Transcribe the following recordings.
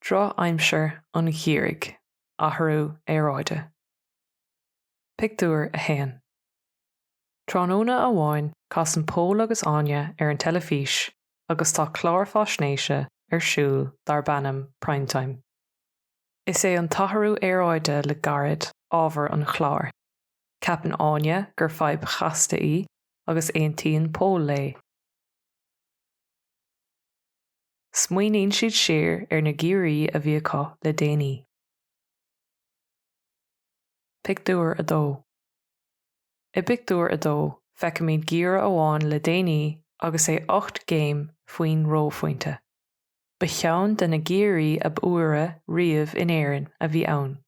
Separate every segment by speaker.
Speaker 1: Drochaimsir an gheimhridh, athrú aeráide. Pictiúr 1 Tráthnóna amháin casann Pól agus Áine ar an teilifís agus tá clár faisnéise ar siúl darb ainm Primetime. Is é an t-athrú aeráide le gairid ábhar an chláir. Ceapann Áine gur fadhb chasta í agus aontaíonn Pól léi. Smaoiníonn siad siar ar na geimhrí a bhí acu le déanaí. Pictiúr 2. I bpictiúr 2, feicimid geimhreadh amháin le déanaí agus é ocht gcéim faoin reophointe. Ba cheann de na geimhrí ab fhuaire riamh in Éirinn a bhí ann.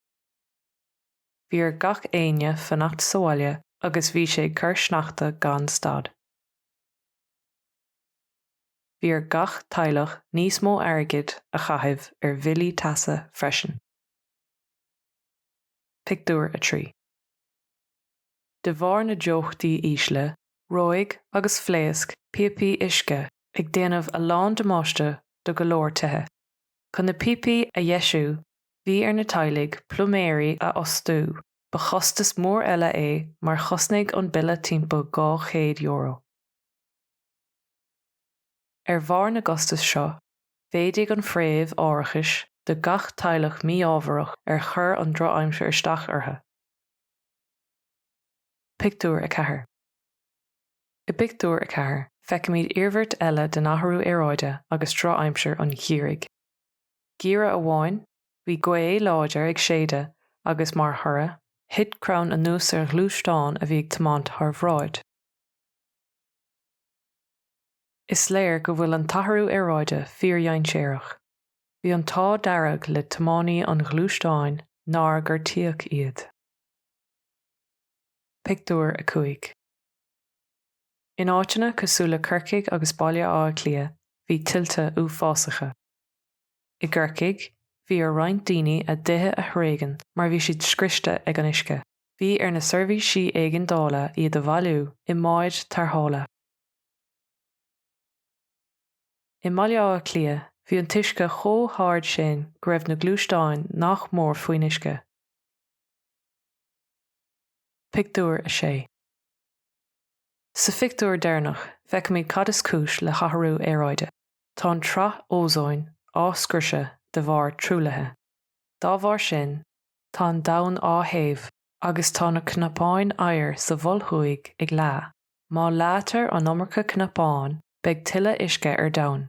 Speaker 1: bhí ar gach éinne fanacht sa bhaile agus bhí sé ag cur sneachta gan stad. Bhí ar gach teaghlach níos mó airgid a chaitheamh ar bhillí teasa freisin. Pictiúr 3 De bharr na dteochtaí ísle, reoigh agus phléasc píopaí uisce ag déanamh a lán damáiste do go leor tithe. Chun na píopaí a dheisiú, Bhí ar na teaghlaigh pluiméirí a fhostú, ba chostas mór eile é mar chosnaigh an bille timpeall €200. Ar bharr na gcostas seo, mhéadaigh an phréimh árachais do gach teaghlach mí-ámharach ar chuir an drochaimsir isteach orthu. Pictiúr 4. I bpictiúr 4, feicimid iarmhairt eile den athrú aeráide agus drochaimsir an gheimhridh. Geimhreadh amháin, bhí gaoth láidir ag séideadh agus, mar thoradh, thit crann anuas ar ghluaisteán a bhí ag tiomáint thar bhráid. Is léir go bhfuil an t-athrú aeráide fíordhainséarach. Bhí an t-ádh dearg le tiománaí an ghluaisteáin nár gortaíodh iad. Pictiúr 5. In áiteanna cosúil le Corcaigh agus Baile Átha Cliath bhí tuilte uafásacha. I gCorcaigh, bhí ar roinnt daoine a dtithe a thréigean mar bhí siad scriosta ag an uisce. Bhí ar na seirbhísí éigeandála iad a bhailiú i mbáid tarrthála. I mBaile Átha Cliath, bhí an t-uisce chomh hard sin go raibh na gluaisteáin nach mór faoin uisce. Pictiúr 6 Sa phictiúr deireanach, feicimid cad is cúis le hathrú aeráide. Tá an tsraith ózóin á scriosadh de bharr truaillithe. Dá bharr sin, tá an domhan á théamh agus tá na cnapáin oighir sa Mhol Thuaidh ag leá. Má leáitear an iomarca cnapán, beidh tuilleadh uisce ar domhan.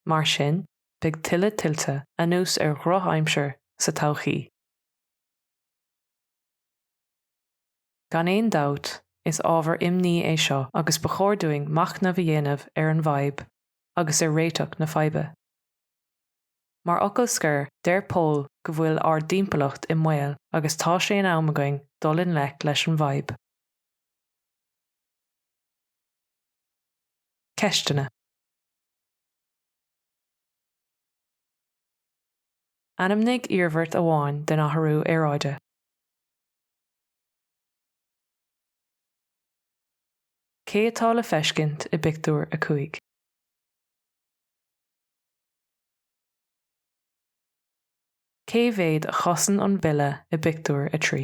Speaker 1: Mar sin, beidh tuilleadh tuilte, anuas ar dhrochaimsir, sa todhchaí. Gan aon dabht, is ábhar imní é seo agus ba chóir dúinn machnamh a dhéanamh ar an bhfadhb agus ar réiteach na faidhbe. Mar fhocal scoir, deir Pól go bhfuil ár dtimpeallacht i mbaol agus tá sé in am againn dul i ngleic leis an bhfadhb. Ceisteanna. Ainmnigh iarmhairt amháin den athrú aeráide. Cé atá le feiscint i bpictiúr a cúig? Cé mhéad a chosnaíonn an bille i bpictiúr a trí?